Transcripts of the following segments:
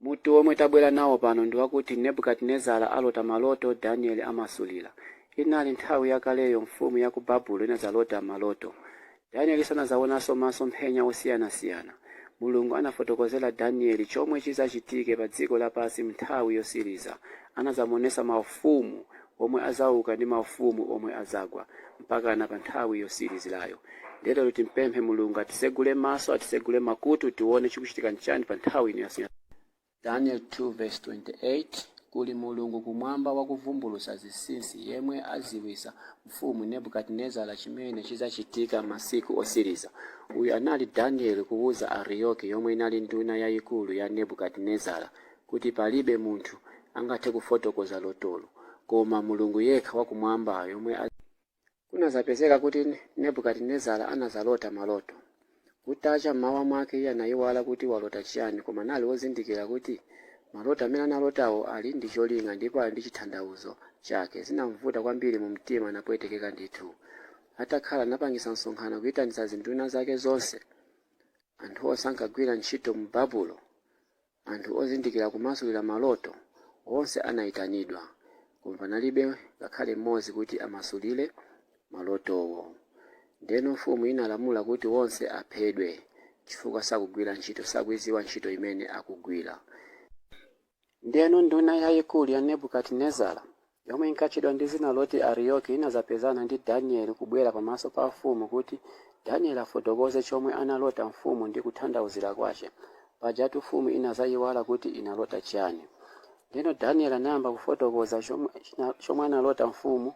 Mutu omwe tabwera nawo pano ndi wakuti Nebukadinezara alota maloto, Danieli amasulira. Inali nthawi yakaleyo mfumu ya ku Babulo inadzalota maloto. Danieli anadzawonanso masomphenya osiyanasiyana. Mulungu anafotokozera Danieli chomwe chidzachitike pa dziko lapansi m'nthawi yotsiriza. Anadzamuonetsa maufumu omwe adzauka ndi maufumu omwe adzagwa mpakana pa nthawi yotsirizirayo. Ndiye lero timpemphe Mulungu atitsegule maso, atitsegule makutu tione chikuchitika nchani pa nthawi ino ya. Daniel 2:28 Kuli Mulungu kumwamba wakuvumbulutsa zinsinsi, yemwe adziwitsa mfumu Nebukadinezara chimene chidzachitika masiku otsiriza. Uyu anali Danieli kuwuza Ariyoki yomwe inali nduna yayikulu ya Nebukadinezara kuti palibe munthu angathe kufotokoza lotolo koma Mulungu yekha wakumwamba yomwe Kunadzapezeka kuti Nebukadinezara anadzalota maloto. Kutacha m'mawa mwake iye anayiwala kuti walota chiyani koma anali wozindikira kuti maloto amene analotawo ali ndi cholinga ndipo ali ndi chithandauzo chake. Zinamvuta kwambiri mu mtima napwetekeka ndithu. Atakhala anapangisa msonkhano kuyitanitsa zinduna zake zonse, anthu onse ankagwira ntchito mu Babulo, Anthu ozindikira kumasulira maloto onse anaitanidwa, koma panalibe ngakhale mmodzi kuti amasulire malotowo. Ndiyeno mfumu inalamula kuti onse aphedwe, chifukwa sakugwira ntchito, sakuidziwa ntchito imene akugwira. Ndiyeno nduna yayikulu ya Nebukadinezara yomwe inkatchedwa ndi dzina loti Ariyoki, inadzapezana ndi Danieli kubwera pamaso pa mfumu kuti Danieli afotokoze chomwe analota mfumu ndi kuthandauzira kwache. Pajatu mfumu inadzayiwala kuti inalota chiyani. Ndeno Danieli anayamba kufotokoza chomwe analota mfumu.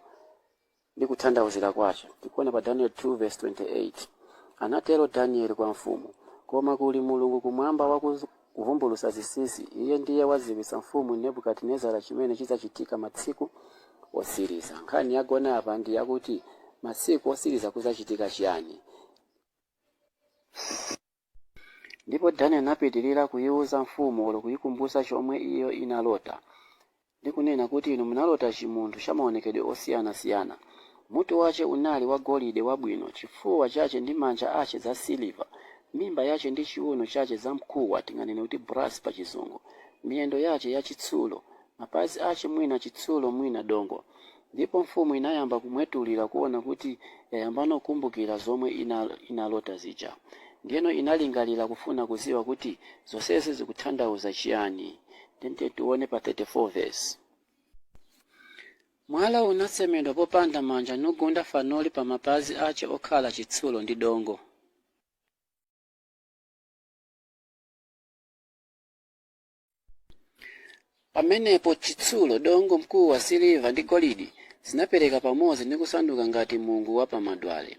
ndi kuthandauzira kwache tikuona pa Daniel 2:28. Anatero Danieli kwa mfumu, Koma kuli Mulungu kumwamba wakuvumbulutsa zinsinsi, Iye ndiye wadziwitsa mfumu Nebukadinezara chimene chidzachitika masiku otsiriza. Nkhani yagona apa ndi yakuti masiku otsiriza kudzachitika chiyani? Ndipo Daniel anapitirira kuyiwuza mfumu olo kuyikumbutsa chomwe iyo inalota, ndi kunena kuti, Inu munalota chimunthu cha maonekedwe osiyanasiyana. Mutu wache unali wa golide wabwino, chifuwa chache ndi manja ache za siliva, mimba yache ndi chiuno chache za mkuwa, tinganene kuti brass pa chizungu, miyendo yache ya chitsulo, mapazi ache mwina chitsulo mwina dongo. Ndipo mfumu inayamba kumwetulira kuona kuti yayambano kukumbukira zomwe inalota zija. Ndiyeno inalingalira kufuna kudziwa kuti zonsezi zikuthandauza chiyani. Ndiye tiye tione pa 34 vesi. Mwala unasemedwa popanda manja nugunda fanoli pa mapazi ache okhala chitsulo ndi dongo. pamenepo chitsulo dongo mkuwa siliva ndi golidi zinapereka pamodzi ndi kusanduka ngati mungu wa pamadwale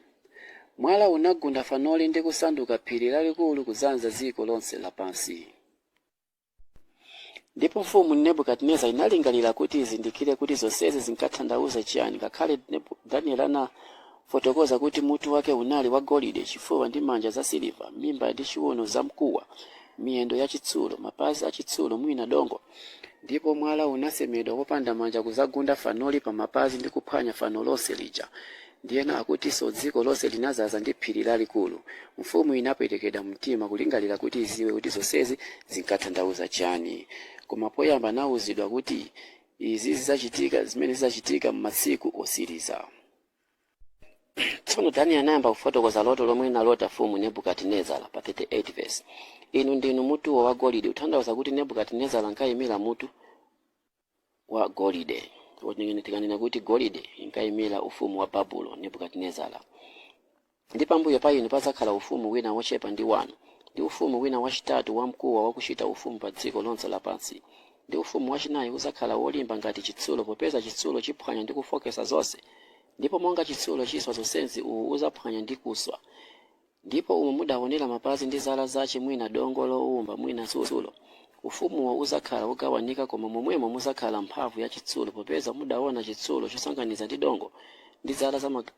mwala unagunda fanoli ndi kusanduka phiri lalikulu kudzaza dziko lonse lapansi ndipo mfumu nebukadinezara inalingalira kuti izindikire kuti zonsezi zinkathandauza chiyani ngakhale danieli ana Fotokoza kuti mutu wake unali wagolide, chifuwa ndi manja zasiliva, mimba ndi chiuno zamkuwa, miyendo yachitsulo, mapazi achitsulo mwina dongo. Ndipo mwala unasemedwa popanda manja kudzagunda fanoli pamapazi ndi kuphwanya fano lonse lija. Ndiyeno akutinso dziko lonse linadzaza ndi phiri lalikulu. Mfumu inapwetekedwa mumtima kulingalira kuti idziwe kuti zonsezi zinkathandauza chiyani. Koma poyamba anauzidwa kuti izi zidzachitika zimene zidzachitika m'masiku otsiriza. tsono danieli anayamba kufotokoza loto lomwe inalota mfumu nebukadinezara pa 38 verse inu ndinu mutuwo wa golide kuthandauza kuti nebukadinezara ankayimira mutu wa golide tikanena kuti golide inkayimira ufumu wa babulo nebukadinezara Ndi pambuyo pa inu padzakhala ufumu wina wochepa ndi wanu, ndi ufumu wina wachitatu wamkuwa wakuchita ufumu pa dziko lonse lapansi, ndi ufumu wachinayi udzakhala wolimba ngati chitsulo, popeza chitsulo chiphwanya ndi kufooketsa zonse, ndipo monga chitsulo chiswa zonsezi uwu udzaphwanya ndi kuswa. Ndipo umo mudawonera mapazi ndi zala zache mwina dongo lowumba mwina chitsulo. Ufumuwo udzakhala wogawanika koma momwemo mudzakhala mphamvu ya chitsulo popeza mudawona chitsulo chosanganiza ndi dongo ndi zala za mapazi.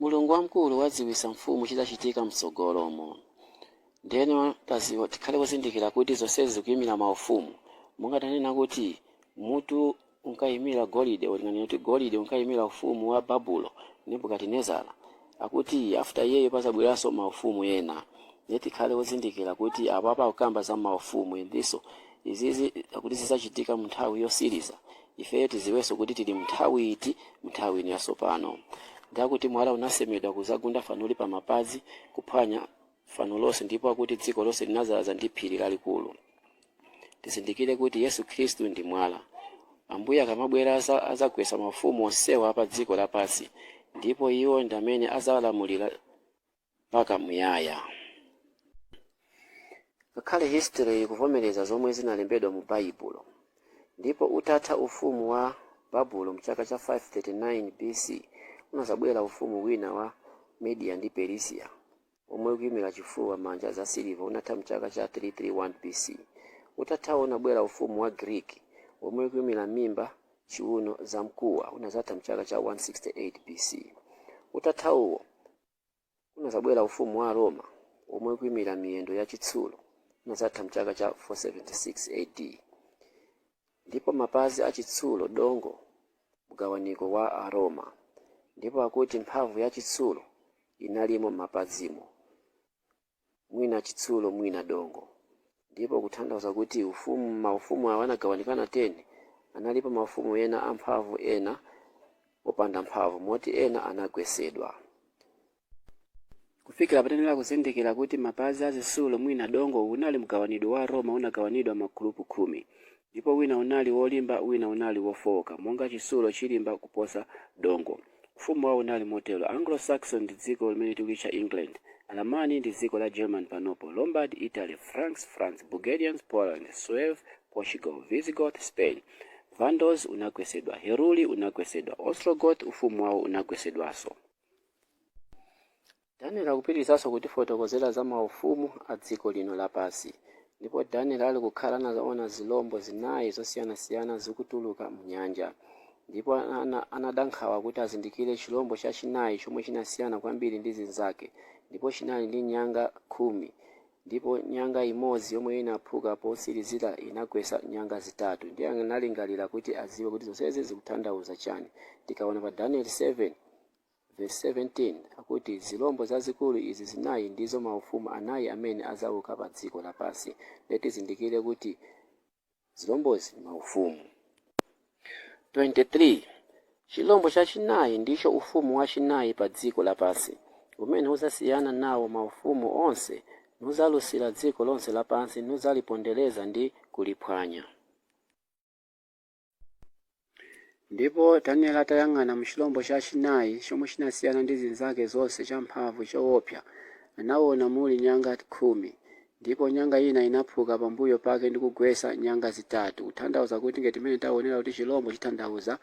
Mulungu wamkulu wadziwitsa mfumu chidzachitika m'tsogolomo. Ndiyeno tadziwa, tikhale ozindikira kuti zonsezi zikuimira maufumu. Monga tanena kuti mutu unkaimira golide, kulinganiza kuti golide unkaimira ufumu wa Babulo, Nebukadinezara, akuti after iyeyo padzabweranso maufumu ena. Ndiye tikhale ozindikira kuti apapa akukamba za maufumu endiso izizi akuti zidzachitika munthawi yotsiriza. ifeyo tiziwenso kuti tili mnthawi iti mnthawi ino yasopano ndi akuti mwala unasemedwa kuzagunda fanoli pa mapazi kuphwanya fano lonse ndipo akuti dziko lonse linazaza ndi phiri lalikulu tizindikire kuti yesu khristu ndi mwala ambuye akamabwera aza- azagwetsa mafumu onsewa a pa dziko lapansi ndipo iwo ndi amene azalamulira mpaka muyaya. Ngakhale history ikuvomereza zomwe zinalembedwa mu Baibulo. Ndipo utatha ufumu wa Babulo mchaka cha 539 BC, unazabwera ufumu wina wa Media ndi Perisia omwe ukuyimira chifuwa manja za siliva unatha mchaka cha 331 BC. Utathawo unabwera ufumu wa Greek omwe ukuyimira mimba, chiuno, za mkuwa unazatha mchaka cha 168 BC. Utathawo kunazabwera ufumu wa Aroma womwe ukuimira miyendo yachitsulo unazatha m'chaka cha 476 AD, ndipo mapazi achitsulo dongo mgawaniko wa Aroma, ndipo akuti mphamvu yachitsulo inalimo mapazimo. mwina chitsulo mwina dongo, ndipo kuthandauza kuti ufumu maufumu awa anagawanikana 10, analipo maufumu ena amphamvu ena opanda mphamvu moti ena anagwesedwa. Kufikira pa tenera kuzindikira kuti mapazi a chitsulo mwina dongo unali mgawanidwe wa Roma unagawanidwa magulupu khumi, Ndipo wina unali wolimba, wina unali wofooka, monga chitsulo chilimba kuposa dongo. Ufumu wawo unali motero, Anglo-Saxon ndi dziko limene tikulitcha England, Alamani ndi dziko la German panopo, Lombard, Italy, Franks, France, Burgundians, Poland, Suevi, Portugal, Visigoth, Spain. Vandals unagwetsedwa, Heruli unagwetsedwa, Ostrogoth ufumu wawo unagwetsedwanso. Daniel akupitirizanso kutifotokozera za maufumu a dziko lino lapansi. Ndipo Daniel ali kukhala anaona zilombo zinayi zosiyanasiyana zikutuluka m'nyanja. Ndipo ana, anada nkhawa kuti azindikire chilombo chachinayi chomwe chinasiyana kwambiri ndi zinzake, ndipo chinali ndi nyanga khumi, ndipo nyanga imodzi yomwe inaphuka posirizira inagwetsa nyanga zitatu. Ndiye analingalira kuti aziwe kuti zonsezi zikuthandauza chani. Tikaona pa Daniel 7. Vesi 17 akuti, Zilombo zazikulu izi zinayi ndizo maufumu anayi amene azauka padziko lapansi. Ndiye tizindikire kuti zilombozi ndi maufumu. 23, Chilombo chachinayi ndicho ufumu wachinayi padziko lapansi, umene uzasiyana nawo maufumu onse, nudzalusira dziko lonse lapansi, nudzalipondereza ndi kuliphwanya. Ndipo Daniele atayang'ana mu chilombo chachinayi, chomwe chinasiyana ndi zinzake zonse, champhamvu, chowopsa, anawona muli nyanga khumi. Ndipo nyanga ina inaphuka pambuyo pake ndi kugwetsa nyanga zitatu, kutanthauza kuti, ngati mmene tawonera kuti chilombo chitanthauza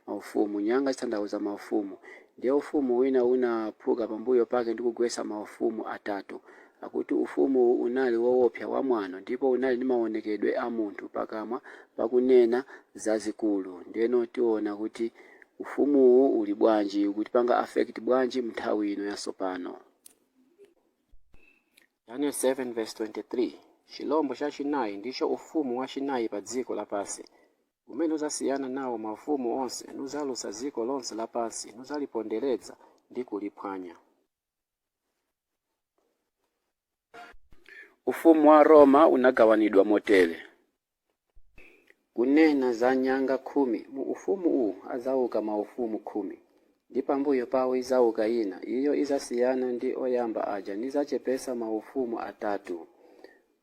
maufumu, nyanga zitanthauza maufumu, ndiye ufumu wina unaphuka pambuyo pake ndi kugwetsa maufumu atatu. Akuti ufumuwu unali wowopsa, wamwano, ndipo unali ndi mawonekedwe a munthu pakamwa pa kunena zazikulu. Ndiyeno tiwona kuti ufumuwu uli bwanji, ukutipanga affect bwanji m'nthawi ino yatsopano. Daniel 7:23, Chilombo chachinayi ndicho ufumu wachinayi padziko lapansi, umene udzasiyana nawo maufumu onse, nudzalusa dziko lonse lapansi, nudzalipondereza ndi kuliphwanya. Ufumu wa Roma unagawanidwa motere. Kunena za nyanga khumi, mu ufumu uwu adzauka maufumu khumi, ndi pambuyo pawo idzauka ina, iyo idzasiyana ndi oyamba aja nidzachepetsa maufumu atatu.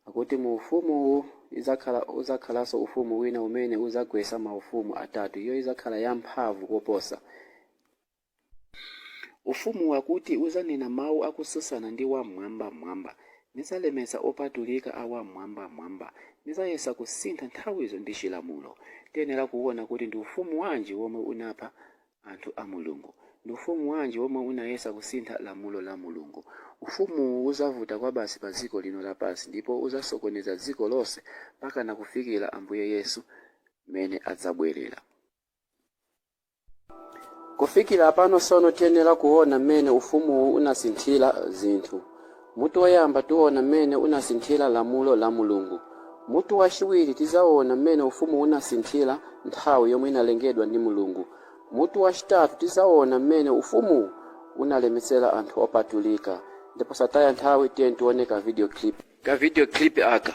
Akuti mu ufumu uwu idzakhala udzakhalanso ufumu wina umene udzagwetsa maufumu atatu, iyo idzakhala yamphamvu koposa. Ufumu wakuti udzanena mawu akutsutsana ndi Wam'mwambamwamba. Nidzalemetsa opatulika a Wam'mwambamwamba. Nidzayesa kusintha nthawizo ndi chilamulo. Tiyenera kuona kuti ndi ufumu wanji womwe unapha anthu a Mulungu? Ndi ufumu wanji womwe unayesa kusintha lamulo la Mulungu? Ufumuwu udzavuta kwabasi padziko lino lapansi ndipo udzasokoneza dziko lonse mpakana kufikira Ambuye Yesu mmene adzabwerera. Kufikira pano sono tiyenera kuona mmene ufumuwu unasinthira zinthu. Mutu woyamba tiona mmene unasinthira lamulo la Mulungu. Mutu wachiwiri tizaona mmene ufumuwu unasinthira nthawi yomwe inalengedwa ndi Mulungu. Mutu wachitatu tizaona mmene ufumuwu unalemetsera anthu opatulika. Nde posataya nthawi tiyeni tione ka video clip aka.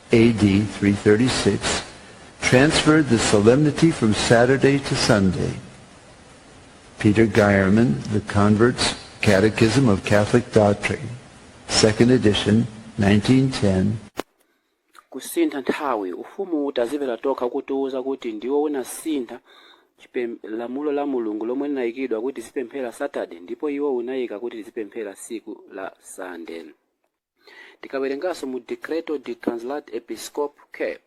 AD 336, transferred the solemnity from Saturday to Sunday. Peter Geiermann, The Convert's Catechism of Catholic Doctrine, second edition, 1910, kusintha nthawi ufumu utazipera tokha kutiwuza kuti ndiwo unasintha chipem- lamulo la mulungu lomwe linayikidwa kuti tizipemphera saturday ndipo iwo unayika kuti tizipemphera tsiku la sunday Tikawerenganso mu Decreto di Translat Episcop Cap.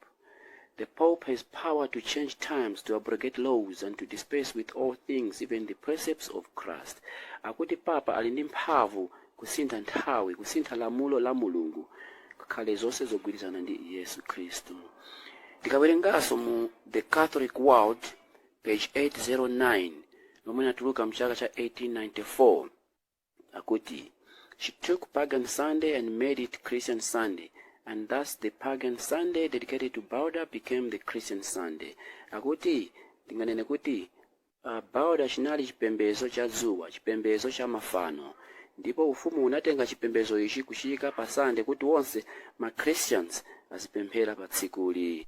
The Pope has power to change times, to abrogate laws, and to dispense with all things, even the precepts of Christ. Akuti Papa ali ndi mphamvu kusintha nthawi, kusintha lamulo la Mulungu, ngakhale zonse zogwirizana ndi Yesu Khristu. Tikawerenganso mu The Catholic World, page 809, lomwe linatuluka mchaka cha 1894. akuti she took pagan sunday and made it christian sunday and thus the pagan sunday dedicated to Balder became the christian sunday akuti tinganene kuti uh, Balder chinali chipembedzo cha dzuwa chipembedzo cha mafano ndipo ufumu unatenga chipembedzo ichi kuchiika pa sunday kuti onse ma christians azipemphera pa tsikuli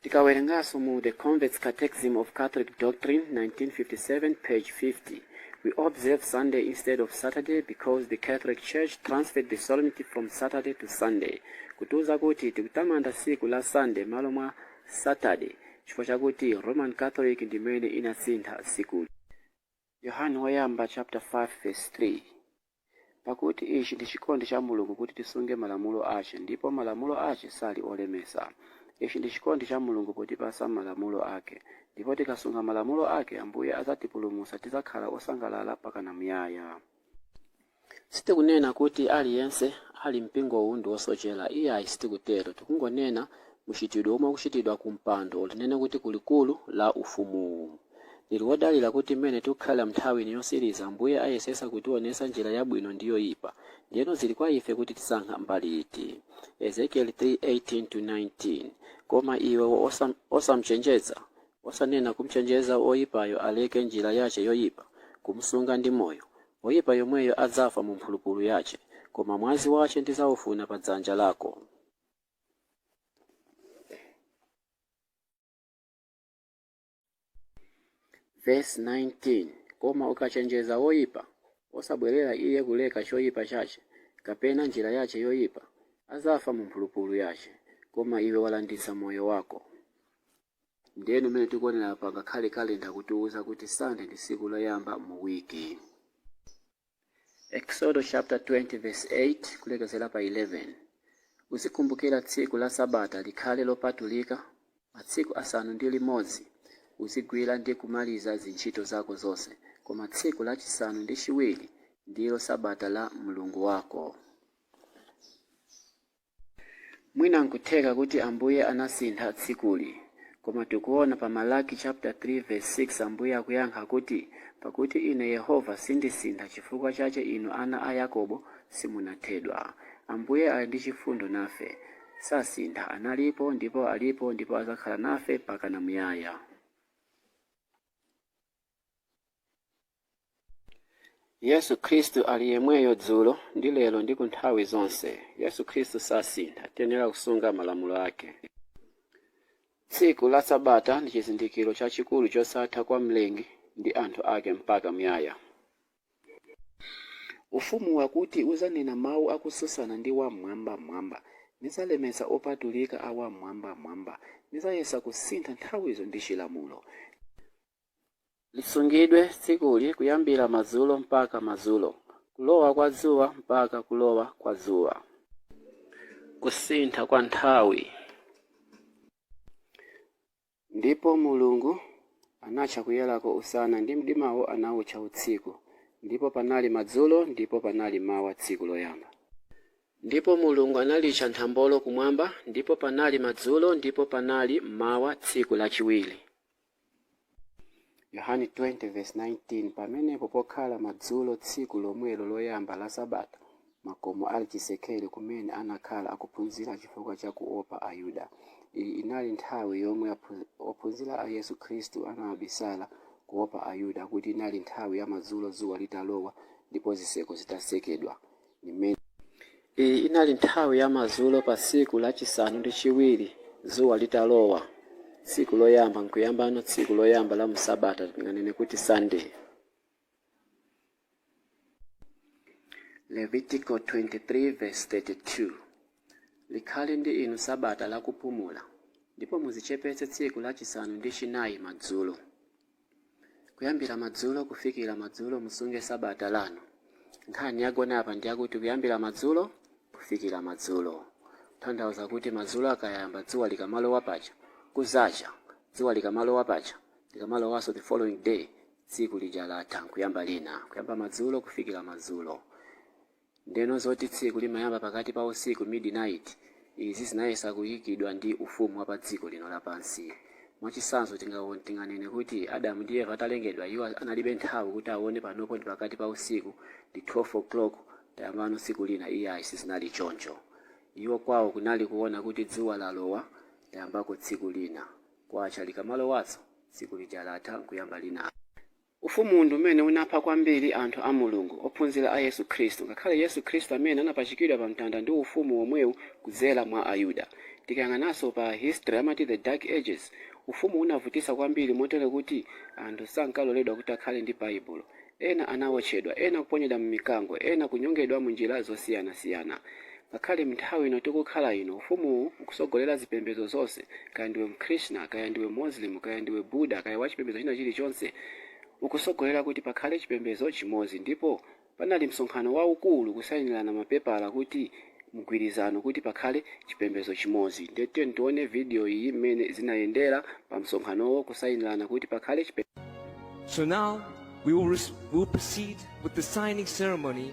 Tikawerenganso mu The Convert's Catechism of Catholic Doctrine, 1957, page 50, We observe Sunday instead of Saturday because the Catholic Church transferred the solemnity from Saturday to Sunday. Kutiuza kuti tikutamanda tsiku la Sunday malo mwa Saturday chifukwa chakuti Roman Catholic ndi imene inasintha tsikuli. Yohane woyamba chapter 5 verse 3. Pakuti ichi ndi chikondi cha Mulungu, kuti tisunge malamulo ache, ndipo malamulo ache sali olemesa. Ichi ndi chikondi cha Mulungu, potipasa malamulo ake. Ndipo tikasunga malamulo ake, Ambuye azatipulumusa, tizakhala osangalala pakana muyaya. Sitikunena kuti aliyense ali m'mpingo uwu ndi wosochela, iyayi sitikutero. Tikungonena muchitidwe omwe ukuchitidwa ku mpando or tinene kuti ku likulu la ufumuwu. Ndili wodalila kuti mmene tikukhalila m'nthawi ino yotsiliza, Ambuye ayesetsa kutionetsa njila yabwino ndi yoipa. Ndiyeno zili kwa ife kuti tisankha mbali iti. Ezekieli 3, 18-19, Koma iwe osam'cenjeza, osanena kum'cenjeza woipayo aleke njila yace yoipa, kum'sunga ndi moyo, woipa yomweyo adzafa mu mphulupulu yace, koma mwazi wace ndidzaufuna pa dzanja lako. Vesi 19 Koma ukacenjeza woipa, osabwerera iye kuleka coipa cace, kapena njira yace yoipa, adzafa mu mphulupulu yace, koma iwe walanditsa moyo wako. Ndiyeno mmene tikuonera apa ngakhale calendar akutiuza kuti Sunday ndi tsiku loyamba mu week. Eksodo chapter 20 verse 8 kulekezera pa 11 Uzikumbukira tsiku la Sabata likhale lopatulika, matsiku asanu ndi limodzi uzigwira ndi kumaliza zintchito zako zonse, koma tsiku la chisanu ndi chiwiri ndilo Sabata la Mulungu wako. Mwina nkutheka kuti Ambuye anasintha tsikuli, koma tikuona pa Malaki chapter 3 verse 6 Ambuye akuyankha kuti, Pakuti Ine Yehova sindisintha chifukwa chache inu ana a Yakobo simunathedwa. Ambuye ali ndi chifundo nafe. Sasintha, analipo ndipo alipo ndipo azakhala nafe mpakana muyaya. Yesu Khristu ali yemweyo dzulo, ndi lero, ndi ku nthawi zonse. Yesu Khristu sasintha. Tiyenera kusunga malamulo ake. Tsiku la Sabata ndi chizindikiro chachikulu chosatha kwa Mlengi ndi anthu ake mpaka muyaya. Ufumu wakuti uzanena mau akususana ndi Wam'mwambamwamba, Nizalemetsa opatulika a Wam'mwambamwamba, nizayesa kusintha nthawizo ndi chilamulo. Lisungidwe tsikuli kuyambira madzulo mpaka madzulo, kulowa kwa dzuwa mpaka kulowa kwa dzuwa. Kusintha kwa nthawi. Ndipo Mulungu anatcha kuyerako Usana, ndi mdimawo anautcha Utsiku. Ndipo panali madzulo ndipo panali m'mawa tsiku loyamba. Ndipo Mulungu analitcha nthambolo Kumwamba, ndipo panali madzulo ndipo panali m'mawa tsiku lachiwiri. Yohane 20 verse 19 Pamenepo pokhala madzulo tsiku lomwelo loyamba la sabata, makomo ali chisekere kumene anakhala akuphunzira chifukwa cha kuopa Ayuda. Iyi inali nthawi yomwe aphu- ophunzira a Yesu Khristu anabisala kuopa Ayuda kuti inali nthawi ya madzulo dzuwa litalowa ndipo zitseko zitasekedwa. Iyi inali nthawi ya madzulo pa tsiku la chisanu ndi chiwiri, dzuwa litalowa, tsiku loyamba, nkuyambano tsiku loyamba la mu sabata, tinganene kuti Sande. Levitiko 23 vesi 32 Likhale ndi inu sabata lakupumula, ndipo muzichepetse tsiku la chisanu ndi chinayi madzulo. Kuyambira madzulo kufikira madzulo musunge Sabata lanu. Nkhani yagona apa ndi yakuti kuyambira madzulo kufikira madzulo. Tanthauza kuti madzulo akayamba dzuwa likamalowa paja, kuzacha, dzuwa likamalowa paja, likamalowanso the following day, tsiku lija latha nkuyamba lina. Kuyamba madzulo kufikira madzulo. Ndeno zoti tsiku limayamba pakati pa usiku, midnight, izi zinayesa kuyikidwa ndi ufumu wa pa dziko lino lapansi. Mwa chisanzo tinganene kuti Adamu ndi Eva atalengedwa iwo analibe nthawi kuti awone panopo ndi pakati pa usiku, ndi 12:00, tayambano tsiku lina iyayi sizinali choncho. Iwo kwawo kunali kuwona kuti dzuwa lalowa tayambako tsiku lina, kwacha likamalowanso tsiku lija latha nkuyamba lina. Ufumuwu ndi umene unapha kwambiri anthu a Mulungu, ophunzira a Yesu Khristu, ngakhale Yesu Khristu amene anapachikidwa pa mtanda ndi ufumu womwewu kudzera mwa Ayuda. Tikayang'ananso pa history amati the dark ages, ufumuwu unavutitsa kwambiri motero kuti anthu sankaloledwa kuti akhale ndi Baibulo. Ena anawotchedwa, ena kuponyedwa m'mikango, ena kunyongedwa mu njira zosiyanasiyana. Ngakhale m'nthawi ino tikukhala ino, Ufumuwu ukutsogolera zipembedzo zonse. Kaya ndiwe Mkrishna, kaya ndiwe Muslim, kaya ndiwe Buddha, kaya wa chipembedzo china chilichonse, ukutsogolera kuti pakhale chipembedzo chimodzi. Ndipo panali msonkhano waukulu kusainirana mapepala kuti mgwirizano kuti pakhale chipembedzo chimodzi. Ndiye tiyeni tione video iyi mmene zinayendera pa msonkhanowo kusainirana kuti pakhale chipem. So now we will, we will proceed with the signing ceremony.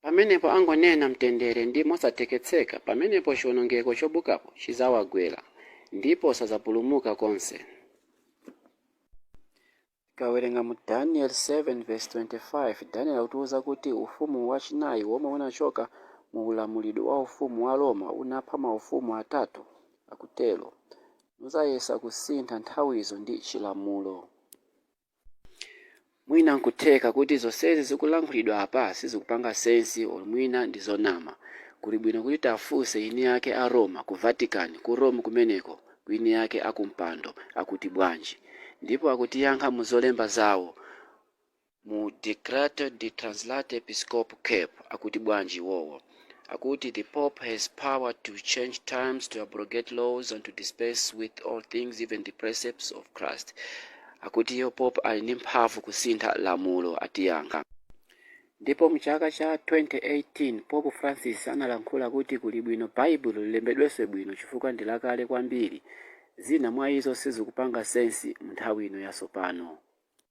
Pamenepo angonena, Mtendere, ndi mosatekeseka, pamenepo chiwonongeko chobuukapo chidzawagwera, ndipo sadzapulumuka konse. Tikawerenga mu Daniel 7:25, Daniel akutiuza kuti ufumu wachinayi womwe unachoka mu ulamulidwe wa ufumu wa Roma unapha maufumu atatu, akutero, nudzayesa kusintha nthawizo ndi chilamulo. Mwina nkutheka kuti zonsezi zikulankhulidwa apa sizikupanga sense olo mwina ndi zonama. Kuli bwino kuti tiafunse eni ake a Roma ku Vatican ku Rome kumeneko ku eni ake akumpando akuti bwanji. Ndipo akutiyankha mu zolemba zawo mu Decreto di Translate Episcopo Cap akuti bwanji iwowo. akuti the pope has power to change times to abrogate laws and to dispense with all things even the precepts of christ akuti iwo pope ali ndi mphamvu kusintha lamulo atiyankha ndipo mu chaka cha 2018 pope francis analankhula kuti kuli bwino baibulo lilembedwenso bwino chifukwa ndi lakale kwambiri zina mwa izo sizikupanga sensi mu nthawi ino yatsopano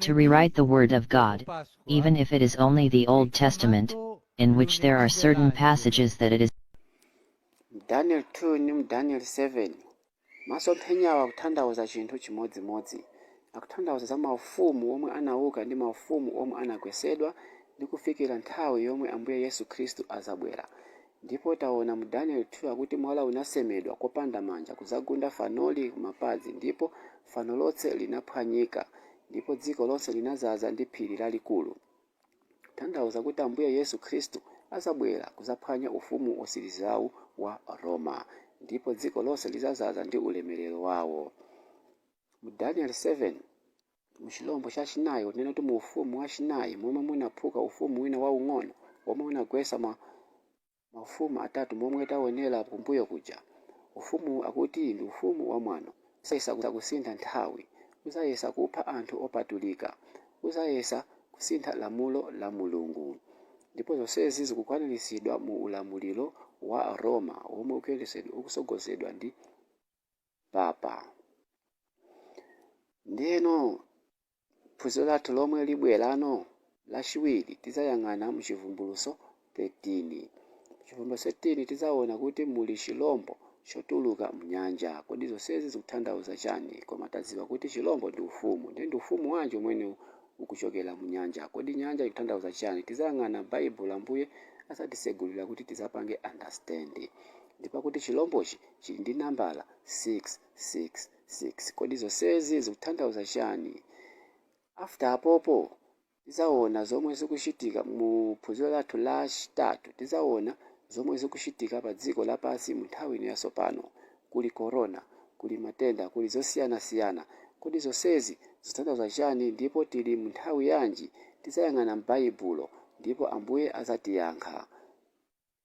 To rewrite the Word of God, even if it is only the Old Testament, in which there are certain passages that it is daniel 2 ndi mu daniel 7 masomphenyawo akutanthauza chinthu chimodzimodzi akutanthauza za maufumu omwe anauka ndi maufumu omwe anagwetsedwa ndi kufikira nthawi yomwe ambuye yesu khristu adzabwera Ndipo taona mu Daniel 2 akuti mwala unasemedwa kopanda manja kudzagunda fanoli kumapazi ndipo fano lonse linaphwanyika ndipo dziko lonse linadzaza ndi phiri lalikulu kutanthauza kuti Ambuye Yesu Khristu adzabwera kudzaphwanya ufumu wotsirizawu wa Roma ndipo dziko lonse lidzadzaza ndi ulemerero wawo. Mu Daniel 7 mu chilombo cha chinayi, kunena kuti mu ufumu wa chinayi, momwe munaphuka ufumu wina waung'ono, womwe unagwetsa maufumu atatu momwe taonera kumbuyo kuja. Ufumuwu akuti ndi ufumu wamwano, udzayesa kusintha nthawi, udzayesa kupha anthu opatulika, udzayesa kusintha lamulo la Mulungu. Ndipo zonsezi zikukwaniritsidwa mu ulamuliro wa Roma womwe ukutsogozedwa ndi. papa. Ndeno phunziro lathu lomwe libwerano lachiwiri tizayang'ana mu chivumbuluso 13. Mu chivumbuluso 13 tizawona kuti muli chilombo chotuluka mnyanja. Kodi zonsezi zikuthandauza chani? Koma tadziwa kuti chilombo ndi ufumu. Nde ndi ufumu wanji umene ukuchokera mnyanja? Kodi nyanja ikuthandauza chani? Tizayang'ana m'baibulo Ambuye azatitsegulira kuti tidzapange understand. Ndipo akuti chilombochi chili ndi nambala 666. Kodi zonsezi zikutanthauza chani? After apopo tizawona zomwe zikuchitika mu phunziro lathu la chitatu tizawona zomwe zikuchitika pa dziko lapansi mu nthawi ino ya tsopano. Kuli corona, kuli matenda, kuli zosiyana siyana. Kodi zonsezi zikutanthauza chani ndipo tili mu nthawi yanji? Tizayang'ana m'baibulo ndipo ambuye azatiyankha.